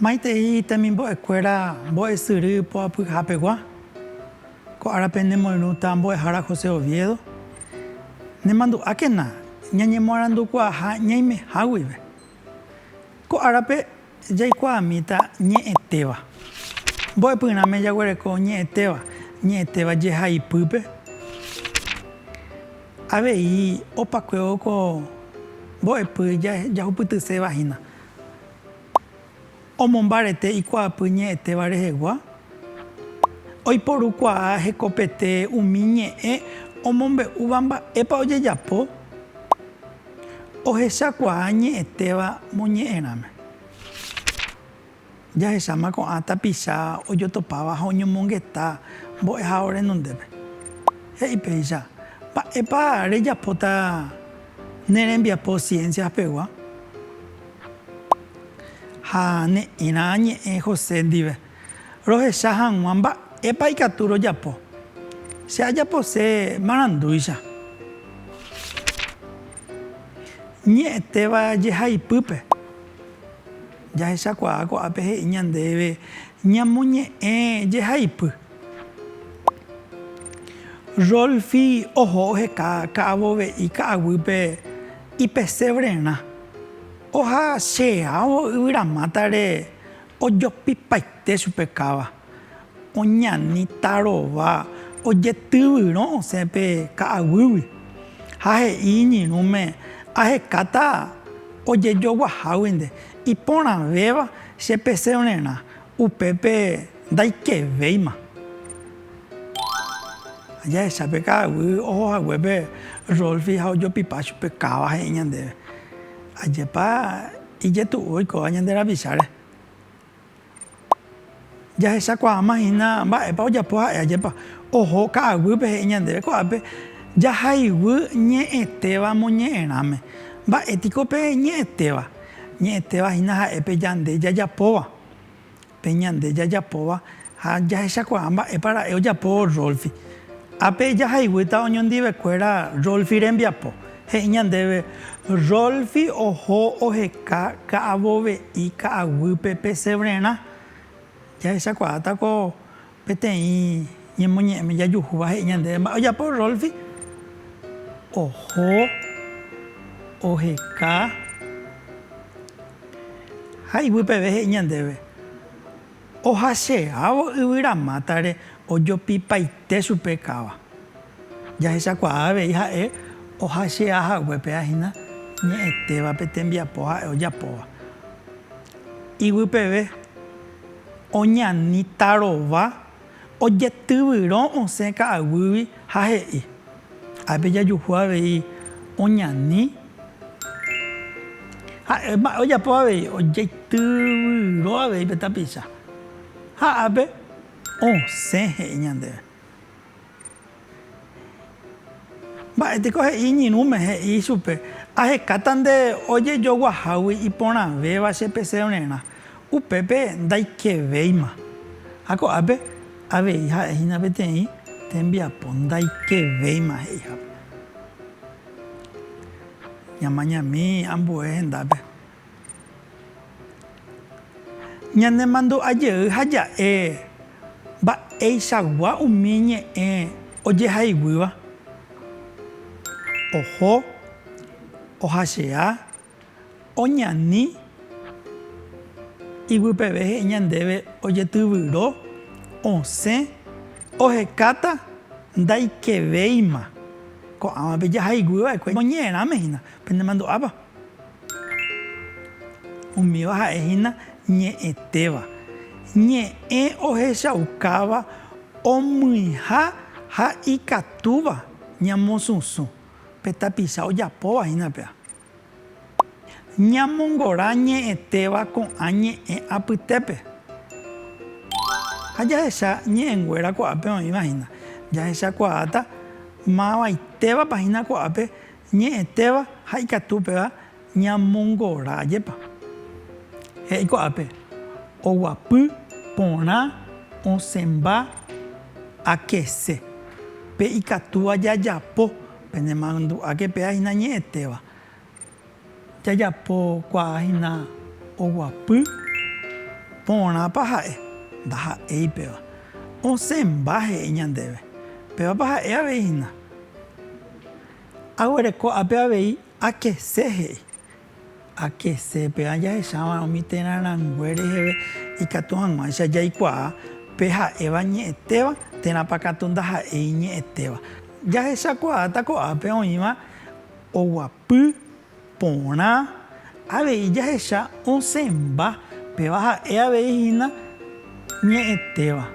Maitei temimbo'ekuéra mbo'esyry poapyhapegua, ko árape nemoirũta mbo'ehára José Oviedo, nemandu'ákena ñañemoarandukuaaha ñaimeha guive. Ko árape jaikuaamíta ñe'ẽtéva. Mbo'epyrãme jaguereko ñe'ẽtéva, ñe'ẽtéva jehaipýpe. Avei opakuévo ko mbo'epy jahupytyséva hína. Omombarete ikuaapy ñe'ẽtéva rehegua, oiporukuaa hekopete umi ñe'ẽ omombe'úva mba'épa ojejapo, ohechakuaa ñe'ẽtéva moñe'ẽrãme. Jahecháma ko'ã tapicha ojotopáva ha oñomongeta mbo'ehao renondépe. He'i péicha, Mba'épa rejapóta ne rembiapo ciencias-pegua? Ha ne'ẽrã añe'ẽ José ndive, rohecha hag̃ua mba'épa ikatu rojapo. Che ajapose marandúicha. Ñe'ẽtéva jehaipýpe, jahechakuaa ko'ápe he'i ñandéve ñamoñe'ẽ jehaipy. Rolfi oho oheka ka'avove'i ka'aguýpe ipesevrerã. Ohase'ãvo yvyramátare ojopipaite chupe káva, oñani tarova ojetyvyrõ osẽ pe ka'aguýgui, ha he'i iñirũme, Ahekáta ojejoguaháguinte, iporãvéva chepesevnerã, Upépe ndaikevéima. Ajahecha pe ka'aguy oho haguépe Rolfi ha ojopipa chupe káva he'i ñandéve, Ajépa ijetu'u oikóva ñande rapicháre. Jahechakuaáma hína mba'épa ojapo ha'e ajépa oho ka'aguýpe he'i ñandéve ko'ápe jahayhu ñe'ẽtéva moñe'ẽrãme. Mba'e piko pe ñe'ẽtéva? Ñe'ẽtéva hína ha'e pe Yande jajapóva, pe Ñande jajapóva ha jahechakuaa mba'épa ra'e ojapo Rolfi. Ápe jahayguýta oñondivekuéra Rolfi rembiapo. He'i ñandéve, Rolfi oho oheka ka'avove'i ka'aguýpe pesevrerã. Jahechakuaáta ko Peteĩ ñemoñe'ẽme jajuhúva he'i ñandéve mba'e ojapo Rolfi, Oho, oheka ha iguýpeve he'i ñandéve, Ohache'ávo yvyra mátare ojopipaite chupe káva. Jahechakuaa avei ha'e ohache'a hague péva hína ñe'ẽtéva pe tembiapo ha'e ojapóva. Iguýpeve. Oñani tarova, ojetyvyrõ osẽ ka'aguýgui ha he'i, Ápe jajuhu avei oñani. Ha'e mba'e ojapo avei, ojeityvyro avei pe tapicha ha ápe osẽ he'i ñandéve. Mba'e piko he'i iñirũme? He'i ichupe, Ahekáta nde ojejoguahágui iporãvéva che pesevererã, upépe ndaikevéima. Ha ko'ápe avei ha'e hína peteĩ tembiapo ndaikevéima he'ihápe. Ñamañami ambue hendápe, Ñanemandu'a jey ha ja'e mba'eichagua umi ñe'ẽ ojehayguýva, oho, ohachea, oñani, iguipeve he'i ñandéve ojetyvyro, osẽ, ohekáta, ndaikevéima. Ko'ãvape jahayguýva'ekue oñe'ẽrãme hína, penemandu'ápa? Umíva ha'e hína ñe'ẽtéva, ñe'ẽ ohechaukáva omyiha ha ikatúva ñamosũsũ, pe tapicha ojapóva hína péva. Ñamongora ñe'ẽtéva ko'ã ñe'ẽ apytépe. Ha jahecha ñe'ẽnguéra ko'ápe oĩva hína, jahechakuaáta mavaitévapa hína ko'ápe Ñe'ẽtéva ha ikatu upéva ñamongora ajépa. He'i ko'ápe, oguapy, porã, osẽmba, akese. Pe ikatúva jajapo, pene mandu'áke péva hína ñe'ẽtéva. Jajapo kuaa hína oguapy, porãpa ha'e, ndaha'éi péva. Osẽmba he'i ñandéve, pévapa ha'e avei hína. Aguereko ápe avei akese he'i. Akese, pe'a jahecháva umi térã rangue reheve ikatu hag̃uáicha jaikuaa pe ha'éva ñe'ẽtéva térãpa katu ndaha'éi ñe'ẽtéva. Jahechakuaáta ko'ápe oĩva oguapy. Porã, avei jahecha osẽmba, péva ha'e avei hína ñe'ẽtéva.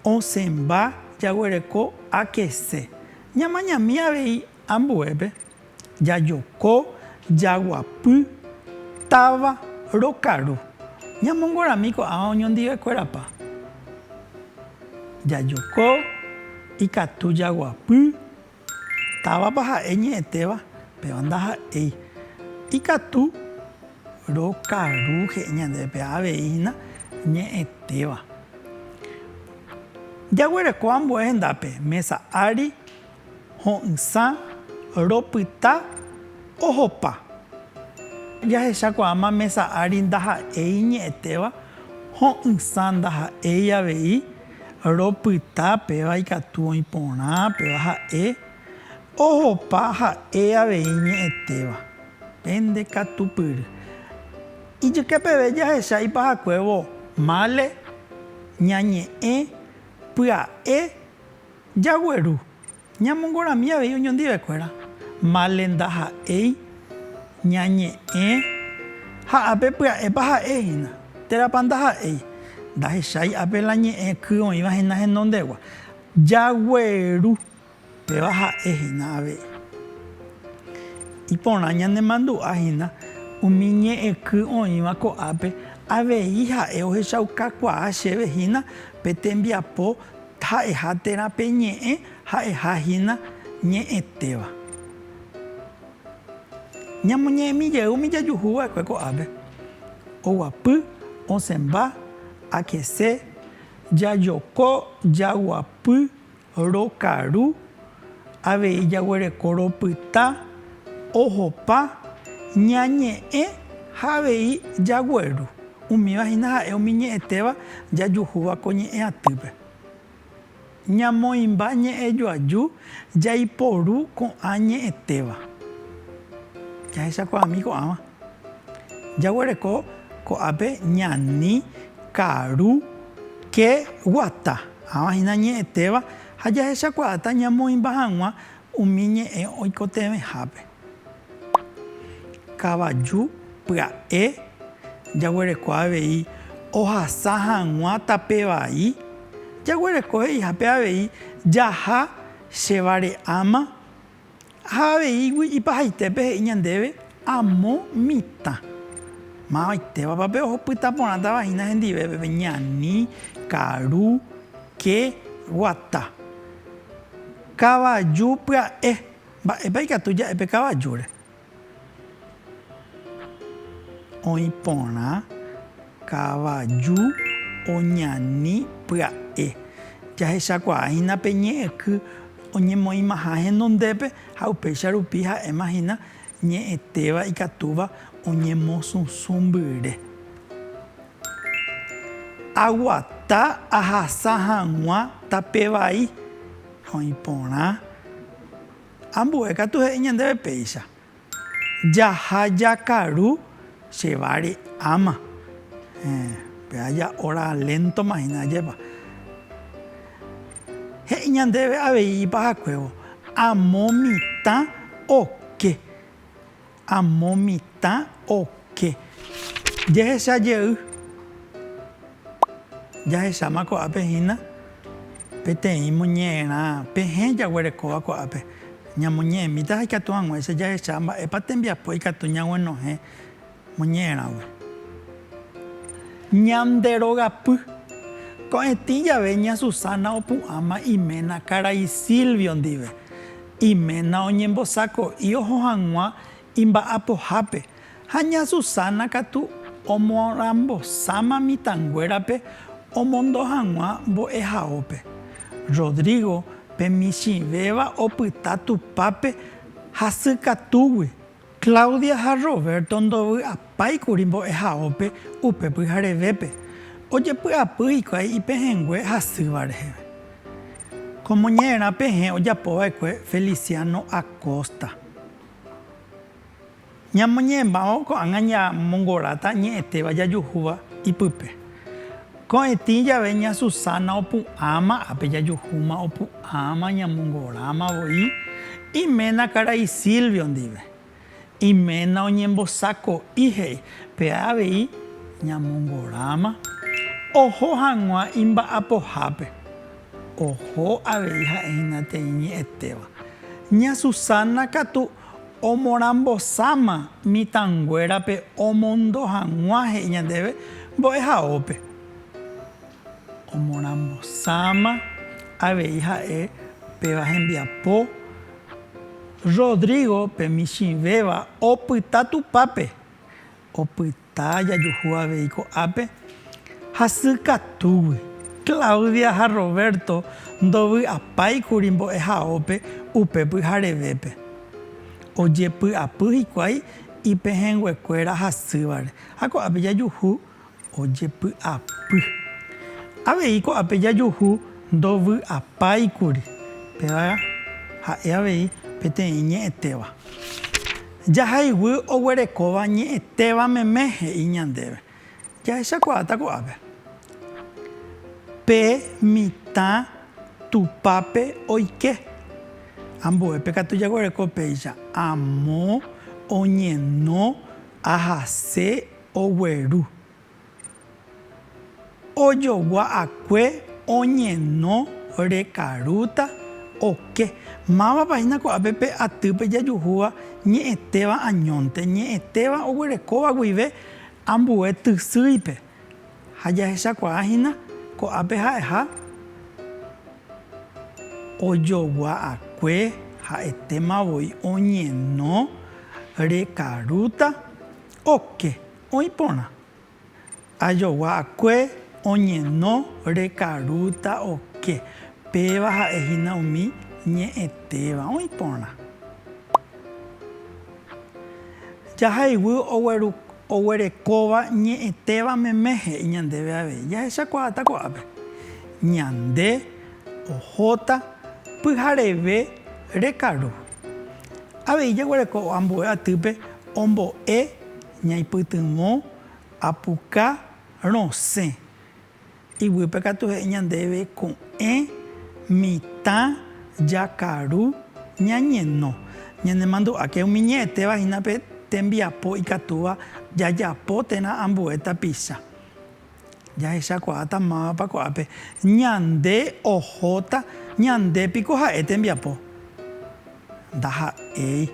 Osẽmba jaguereko akese, ñamañami avei ambuépe, jajoko, jaguapy, táva, rokaru. Ñamongorami ko'ág̃a oñondivekuérapa. Jajoko, ikatu jaguapy. Távapa ha'e ñe'ẽtéva, péva ndaha'éi. Ikatu rokaru he'i ñandéve, péva avei hína ñe'ẽtéva. Jaguereko ambue hendápe, mésa ári, ho'ysã, ropyta, ohopa. Jahechakuaáma mésa ári ndaha'éi ñe'ẽtéva, ho'ysã ndaha'éi avei. ropyta péva ikatu oĩ porã péva ha'e ohopa ha'e avei ñe'ẽtéva pende katupyry. Ijyke peve jahecha ipahakuévo mále ñañe'ẽ pya'e jagueru. Ñamongorami avei oñondivekuéra, mále ndaha'éi, ñañe'ẽ, ha ápe pya'épa ha'e hína, térãpa ndaha'éi, ndahechái ápe la ñe'ẽ ky oĩva hína henondegua, jagueru, péva ha'e hína avei. Iporã ñanemandu'a hína umi ñe'ẽ ky oĩva ko'ápe avei ha'e ohechaukakuaa chéve hína pe tembiapo, Ha'eha térã pe ñe'ẽ ha'eha hína ñe'ẽtéva. Ñamoñe'ẽmi jey umi jajuhu va'ekue ko'ápe, oguapy, osẽmba, akese, jajoko, jaguapy, rokaru, Avei jaguereko ropyta, ohopa, ñañe'ẽ ha avei jagueru. Umíva hína ha'e umi ñe'ẽtéva jajuhúva ko ñe'ẽ atýpe. Ñamoĩmba ñe'ẽ joaju jaiporu ko'ã ñe'ẽtéva. Jahechakuaami ko'ãva. Jaguereko ko'ápe ñani, karu, ke, guata. Ãva hína ñe'ẽtéva. Ha jahechakuaáta ñamoĩmba hag̃ua umi ñe'ẽ oikotevẽhápe. Kavaju pya'e jaguereko avei ohasa hag̃ua tape vai, jaguereko he'ihápe avei jaha che vare'áma. Ha aveígui ipahaitépe he'i ñandéve amo mitã, Mavaitévapa pe ohupyta porãtava hína hendivépe, pe ñani, karu, ke, guata, kavaju pya'e? Mba'épa ikatu ja'e pe kavajúre? Oĩ porã kavaju oñani pya'e. Jahechakuaáhina pe ñe'ẽky oñemoĩmaha henondépe ha upéicha rupi ha'éma hína ñe'ẽtéva ikatúva oñemosũsũ mbyre. Aguata ahasa hag̃ua tape vai. Oĩ porã. Ambue katu he'i ñandéve péicha, Jaha jakaru che vari áma. Héẽ, pe aja óra léntoma hína ajépa. He'i ñandéve avei ipahakuévo, Amo mitã oke. Amo mitã oke. Jehecha jey. Jahecháma ko'ápe hína peteĩ moñe'ẽrã pehẽ jaguerekóva ko'ápe. Ñamoñe'ẽmíta ha ikatu hag̃uáicha jahecha mba'épa tembiapo ikatu ñaguenohẽ moñe'ẽrãgui. Ñande rogapy. Ko'ẽtĩ jave ña Susana opu'ãma iména karai Silvio ndive. Iména oñembosako'i oho hag̃ua imba'apohápe, ha ña Susana katu omorãmbosáma mitãnguérape omondo hag̃ua mbo'ehaópe. Rodrigo pe michĩvéva opyta Tupãpe hasykatúgui Claudia ha Roberto ndovy'apái kuri mbo'ehaópe upe pyharevépe, ojepy'apy hikuái ipehẽngue hasýva reheve. Kómo ñe'ẽrã pehẽ ojapova'ekue Feliciano Acosta. Ñamoñe'ẽmbáma ko'ág̃a ñamongoráta ñe'ẽtéva jajuhúva ipype. Ko'ẽtĩ jave ña Susana opu'ãma ápe jajuhúma opu'ãma ñamongoráma voi iména karai Silvio ndive. Iména oñembosako'i he'i pe avei ñamongoráma oho hag̃ua imba'apohápe. Oho avei ha'e hína tei ñe'ẽtéva. Ña Susana katu Omorambosáma mitãnguérape omondo hag̃ua he'i ñandéve mbo'ehaópe. Omorambosáma avei ha'e péva hembiapo. Rodrigo pe michĩvéva opyta tupápe. Opyta. Heta jajuhu avei ko'ápe hasykatúgui. Claudia ha Roberto ndovy'apái kuri mbo'ehaópe upe pyharevépe. Ojepy'apy hikuái ipehẽnguekuéra hasývare ha ko'ápe jajuhu ojepy'apy. Avei ko'ápe jajuhu ndovy'apái kuri, péva ha'e avei peteĩ ñe'ẽtéva. Jahayguy oguerekóva ñe'ẽtéva meme he'i ñandéve. Jahechakuaáta ko'ápe. Pe mitã tupápe oike. Ambue pe katu jaguereko péicha, amo, oñeno, ahase, ogueru. Ojogua'akue oñeno rekarúta oke. Mávapa hína ko'ápe pe atýpe jajuhúva ñe'ẽtéva añónte, ñe'ẽtéva oguerekóva guive ambue tysýipe. Ha jahechakuaa hína ko'ápe ha'eha ojogua'akue ha'etéma voi oñeno rekarúta oke. Oĩ porã. Ajogua'akue oñeno rekarúta oke, péva ha'e hína umi ñe'ẽtéva. Oĩ porã. Jahayguy oguerekóva ñe'ẽtéva meme he'i ñandéve avei. Jahechakuaáta ko'ápe. Ñande ohóta pyhareve rekaru. Avei jaguerekóva ambue atýpe ombo'e. Ñaipytyvõ apuka rosẽ. Iguýpe katu he'i ñandéve ko'ẽ mitã jakaru ñañeno. Ñanemandu'áke umi ñe'ẽtéva hína pe tembiapo ikatúva jajapo térã ambue tapicha. Jahechakuaáta mávapa ko'ápe ñande ohóta ñande piko ha'e tembiapo. Ndaha'éi.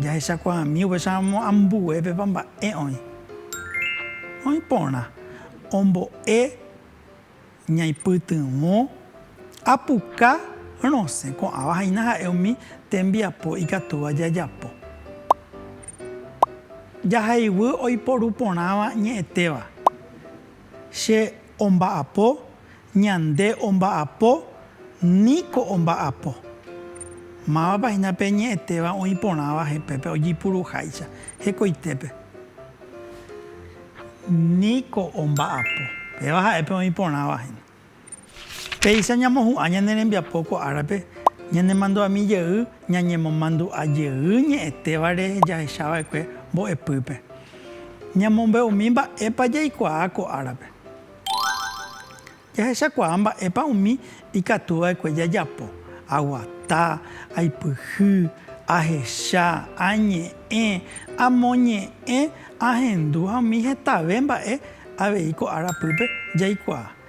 Jahechakuaami upéicharamo ambuépepa mba'e oĩ. Oĩ porã ombo'e ñaipytyvõ. Apuka rosẽ ko'ãva haína ha'e umi tembiapo ikatúva jajapo. Jahaiguy oiporu porãva ñe'ẽtéva, Che omba'apo, Ñande omba'apo, Niko omba'apo. Mávapa hína pe ñe'ẽtéva oĩ porãva jepépe ojipuruháicha hekoitépe? Niko omba'apo. Péva ha'e pe oĩ porãva hína. Péicha ñamohu'ã ñane rembiapo ko árape, ñanemandu'ami jey ñañemomandu'a jey ñe'ẽtévare jahechava'ekue mbo'epýpe. Ñamombe'umi mba'épa jaikuaa ko árape. Jahechakuaa mba'épa umi ikatuva'ekue jajapo, aguata, aipyhy, ahecha, añe'ẽ, amoñe'ẽ, ahendu ha umi hetave mba'e Avei ko ára pýpe jaikuaa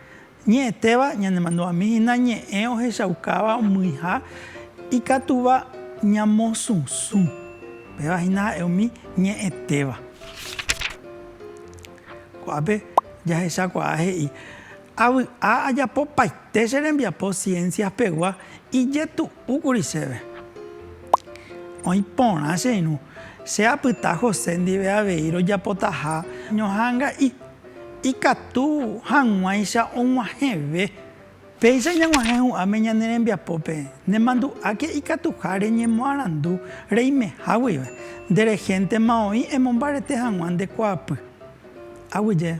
ñe'ẽtéva ñanemandu'ami hína ñe'ẽ ohechaukáva umyiha ikatuva ñamosũsũ. Péva hína ha'e umi ñe'ẽtéva. Ko'ápe jahechakuaa he'i, Avy'a ajapopaite che rembiapo ciencias pegua ijetu'u. Púkuri chéve. Oĩ porã che irũ. Che apyta José ndive avei rojapotaha ñoha'ãnga'i. Ikatu hag̃uáicha og̃uahẽve. Péicha ñag̃uahẽ hu'ãme ñane rembiapópe, nemandu'áke ikatuha reñemoarandu reimeha guive. Nde rehéntema oĩ emombarete hag̃ua nde kuaapy. Aguyje.